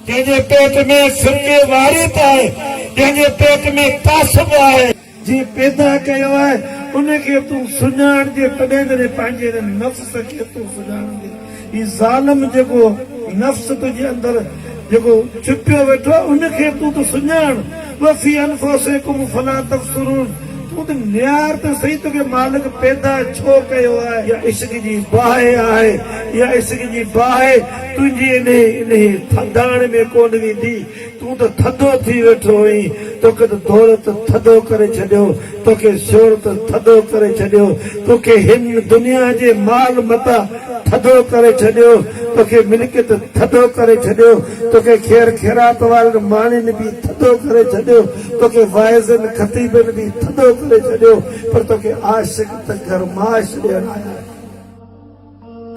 ڪنهن جي پيٽ ۾ فرقي واريت آهي، ڪنهن جي پيٽ ۾ تعصب آهي. جنهن پيدا ڪيو آهي، ان کي تون سڃاڻجي، تڏهن جڏهن پنهنجي هن نفس کي تون سڃاڻجي. هي ظالم جيڪو نفس تنهنجي اندر جيڪو ڇپيو ويٺو آهي، ان کي تون ته سڃاڻ. وفي انفسکم فلا تبصرون تون ته نيار ته سهي توکي مالڪ پيدا ڇو ڪيو آهي. يا عشق جي باهه آهي يا عشق جي باهه تنهنجي انهي انهي ٿڌاڻ ۾ ڪونه ويندي تون ته ٿڌو ٿي ويٺو هئين توکي ته دولت ٿڌو ڪري ڇڏيو توکي شهرت ٿڌو ڪري ڇڏيو توکي هن دنيا جي مال متاع ٿڌو ڪري ڇڏيو توکي ملڪيت ٿڌو ڪري ڇڏيو توکي خير خيرات وارن ماڻهين به ٿڌو ڪري ڇڏيو، توکي واعظن خطيبن به ٿڌو ڪري ڇڏيو، پر توکي عاشق ته گرماش ڏيڻ آيا آهن.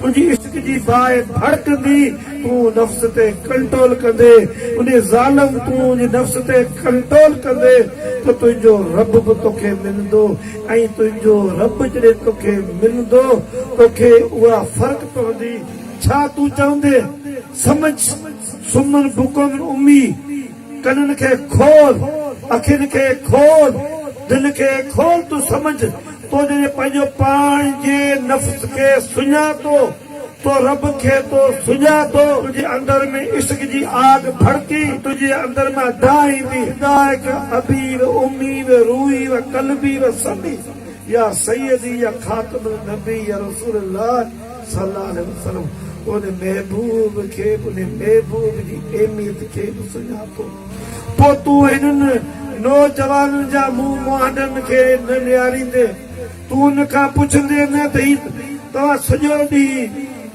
تنهنجي عشق جي باهه ڀڙڪندي تون نفس تي ڪنٽرول ڪندي انهي ظالم تنهنجي نفس تي ڪنٽرول ڪندي ته تنهنجو رب به توکي ملندو ۽ تنهنجو رب جڏهن توکي ملندو توکي اها فرق پوندي ڇا تون چوندين سمجھ سمن بڪم امي، ڪنن کي کول، اکين کي کول، دل کي کول تون سمجھ تو جڏهن پنهنجو پاڻ جي نفس کي سڃاتو تو رب کي تو سڃاتو تنهنجي اندر ۾ عشق جي آگ ڀڙڪي تنهنجي اندر مان دانهيندي فدائک ابي و امي و روحي و قلبي و سمي يا سيدي يا خاتم النبي يا رسول الله. صلّي اللّٰه عليه وسلّم انهي محبوب کي به انهي محبوب جي اهميت کي به سڃاتو پوء تون هنن نوجوانن جا منهن مهانڊن کي نه نهاريندين تون انهن کان پڇندين نه ته هي توهان سڄو ڏينهن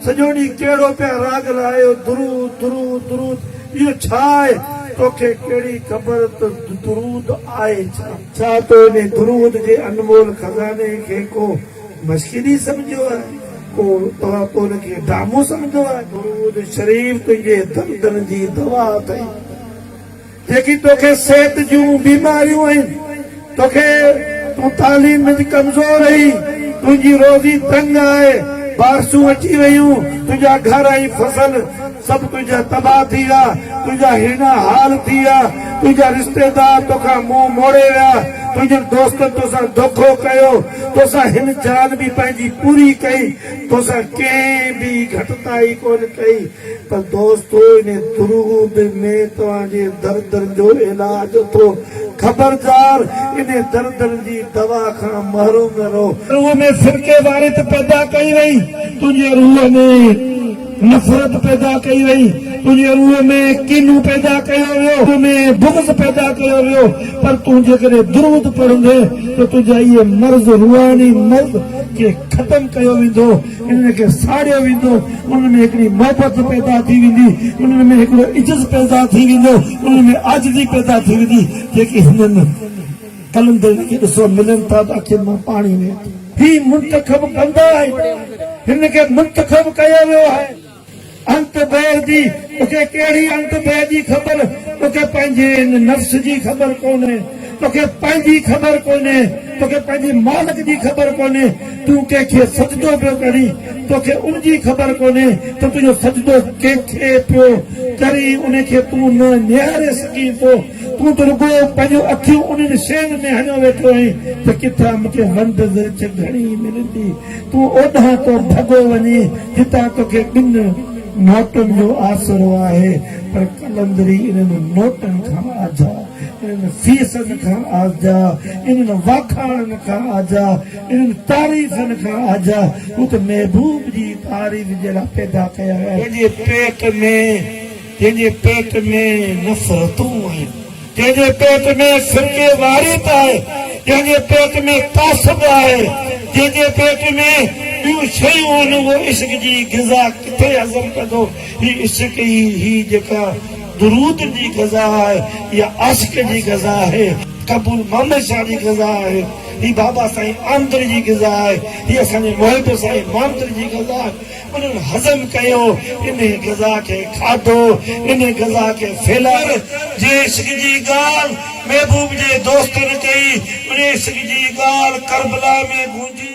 سڄو ڏينهن ڪهڙو پيا راڳ لاهيو درود درود درود اهو ڇا آهي توکي ڪهڙي خبر ته درود آهي ڇا؟ ڇا تو انهي درود جي انمول خزاني کي ڪو مسجدي سمجهيو آهي، ڪو توهان ته ان کي ڊرامو سمجهندو آهي. درود شريف تنهنجي دردن جي دوا اٿئي، جيڪي توکي صحت جون بيماريون آهن، توکي تون تعليم منجھ ڪمزور آهي، تنهنجي روزي تنگ آهي، بارشون اچي ويون، تنهنجا گهر ۽ فصل سڀ تنهنجا تباهه ٿي ويا، تنهنجا هيڻا حال ٿي ويا، تنهنجا رشتيدار توکان منهن موڙي ويا، تنهنجن دوستن توسان دوکو ڪيو، توسان هن جان به پنهنجي پوري ڪئي، توسان ڪنهن به گهٽتائي ڪونه ڪئي پر دوستو ان درود ۾ توهان جي دردن جو علاج اٿو، خبردار ان دردن جي دوا کان محروم نه رهو. روح ۾ فرقي واريت پيدا ڪئي وئي، تنهنجي روح ۾. نفرت پيدا ڪئي وئي، تنهنجي روح ۾ ڪينو پيدا ڪيو ويو، روح ۾ بغض پيدا ڪيو ويو، پر تون جيڪڏهن درود پڙهندين ته تنهنجا اهي مرض، روحاني مرض، کي ختم ڪيو ويندو، انهن کي ساڙيو ويندو، انهن ۾ هڪڙي محبت پيدا ٿي ويندي، انهن ۾ هڪڙو عجز پيدا ٿي ويندو، انهن ۾ عاجزي پيدا ٿي ويندي، جيڪي هنن. قلندرن کي ڏسو ملن ٿا ته اکين مان پاڻي وهي ٿو. هي منتخب بنده آهي. هن کي منتخب ڪيو ويو آهي. انت بير جي توکي ڪهڙي انت بير جي خبر توکي پنهنجي ان نفس جي خبر ڪونهي توکي پنهنجي خبر ڪونهي توکي پنهنجي مالڪ جي خبر ڪونهي تون ڪنهن کي سجدو پيو ڪرين توکي ان جي خبر ڪونهي ته تنهنجو سجدو ڪنهن کي پيو ڪرين ان کي تون نه نهاري سگهين ٿو تون ته رڳو پنهنجون اکيون انهن شين ۾ هڻيو ويٺو آهين ته ڪٿان مون کي ونڊ ورڇ گهڻي ملندي. تون اوڏانهن ٿو ڀڳو وڃين جتان توکي ٻن نوٽن جو آسرو آهي. پر قلندري انهن نوٽن کان آجا، انهن فيسن کان آجا، انهن واکاڻن کان آجا، انهن تعريفن کان آجا، هو ته محبوب جي تعريف جي لاء پيدا ڪيا ويا آهن. تنهنجي پيٽ ۾. ڪنهن جي پيٽ ۾ نفرتون آهن، ڪنهن جي پيٽ ۾ فرقي واريت آهي، ڪنهن جي پيٽ ۾ تعصب آهي، جنهن جي پيٽ ۾ ٻيون شيون آهن اهو عشق جي غذا ڪٿي هضم ڪندو؟ هي عشق ئي هي جيڪا درود جي غذا آهي اها عاشق جي غذا آهي، قبول محمد شاهه جي غذا آهي، هي بابا سائين آمدڙي جي غذا آهي، هي اسان جي محب سائين مامدڙي جي غذا آهي. انهن هضم ڪيو، انهي غذا کي کاڌو، انهي غذا کي ڦيلايو. جي عشق جي ڳالهه محبوب جي دوستن ڪئي، انهي عشق جي ڳالهه ڪربلا ۾ گونجي.